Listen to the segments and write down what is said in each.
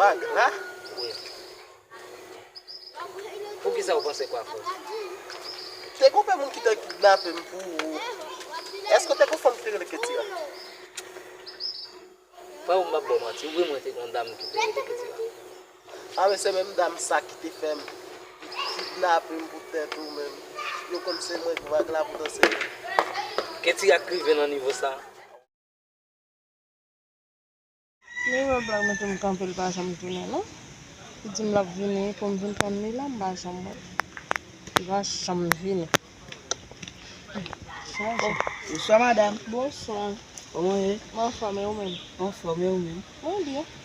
Vag la? Wi. Pou kisa ou panse kwa fò? Te gon pè moun ki te kidnape m pou ou. Eske ou te gon fanm ki te rele Ketira? Frè ou m pap ba w manti. Wi mwen te gon dam ki te rele Ketira. A men se menm dam sa ki te fè m kidnape m pou tèt ou menm. Yo konn se mwen k vag la poutan se yo. Ketira k rive nan nivo sa? Li wè blag mete m kanpe li pa janm tounen non li di m lap vini pou m vin tann li la m pa janm wè l li pa janm vini Bonswa madam Bonswa Kòman ou ye Mwen anfòm e ou menm Mwen anfòm e ou menm Mwen byen.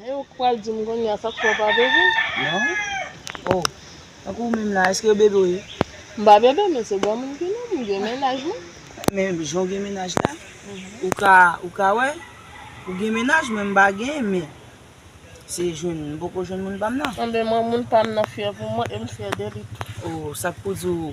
He ou pral dim kounye a sak fè ou pa bebe? Non oh tankou ou menm la eske ou bebe ou ye? M pa bebe men se granmoun ki non m gen mennaj mwen. Men jan ou gen mennaj la ou ka ou ka wè ou gen mennaj mwen m pa gen men se jwenn m poko jwenn moun pa m nan. Anben mwen moun pa m nan fyè pou mwen e m fyè de li tou. Oh sak pou di ou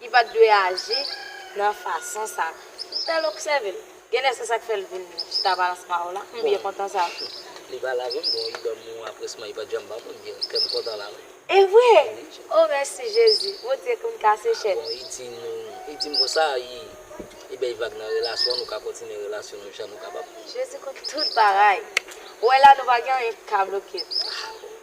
Li pa t dwe aji nan fason sa. M t al obsève l. Genlè se sa k fè l vin chita balans ma ou la. M byen kontan sa. Li pa lave m bon li ban m yon apresman li pa t janm ban m. M byen kè m kontan la wi. E vre? O mèsi Jezi. Bondye konn kase chèn. Bon li di m li di m konsa li li bay vag nan relasyon an nou ka kontinye relasyon nou jan nou kapab. Jezi konn tout bagay. Ou wè la nou pa gen anyen ki ka bloke l.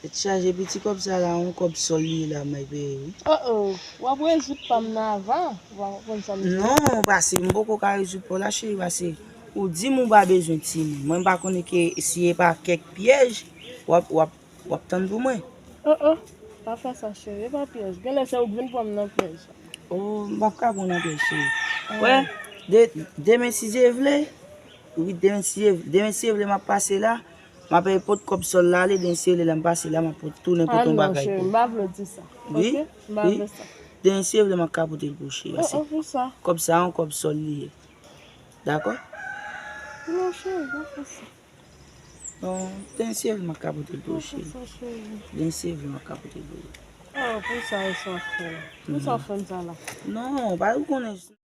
Tèt chaje piti kòb sa la yon kòb sòl li ye la may peye wi. Oh oh wap rezoud pam nan avan ou pa konprann sam di. Non pase m poko ka rezoud paw la cheri pase ou dim ou pa bezwen timoun mwen pa konnen ke si e pa kèk pyèj wap wap wap tann pou mwen. Oh oh pa fè sa cheri e pa pyèj genlè se ou k vin pranm nan pyèj. Oh m pap ka pran nan pyèj cheri wè de demen si Dye vle wi demen si Dye vle demen si Dye vle map pase la. Ma peye pot kob sol la ale den seye le la m pase la ma pot tounen pote yon bagay pou ou wi wi den seye vle ma ka pote l pou ou cheri a se kob sa yon kob sol li ye dako den seye vle ma ka pote l pou ou cheri den seye vle ma ka pote l pou ou non pa ou konnen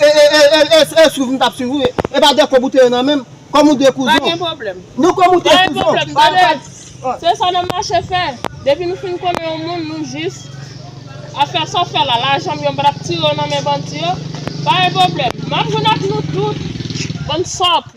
E e swiv m tap swiv ou ye. E pa de kob ou te ye nan menm. Kom ou de kouzon. Pa gen pwoblem. Non kom ou te kouzon. Pa gen pwoblem gade se sa nan mache fè. Depi nou fin konnen yon moun nou jis ap fè sa w fè la. Lajan m yo m pa tap tire yo nan men bandi yo. Pa gen pwoblem. Map jwenn ak nou tout. Bann sòt.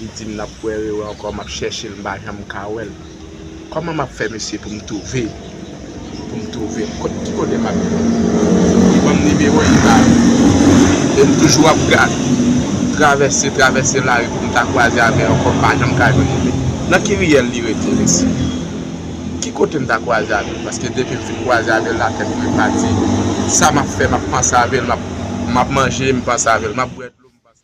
Li dim nap kwè rewe ankò map chèchel m pa janm ka wèl kòman map fè mesye poum twouve poum twouvel kot ki kote map jwenn li banm nimewo li bay em toujou ap gad travèse travèse lari poum ta kwaze avèl ankò m pa janm ka jwenn li nan ki riyèl li rete mesye ki kotem ta kwaze avèl paske depim fin kwaze avèl la tèt mwen pati sa map fè map panse avèl map manje m panse avèl map bwè dlo m panse.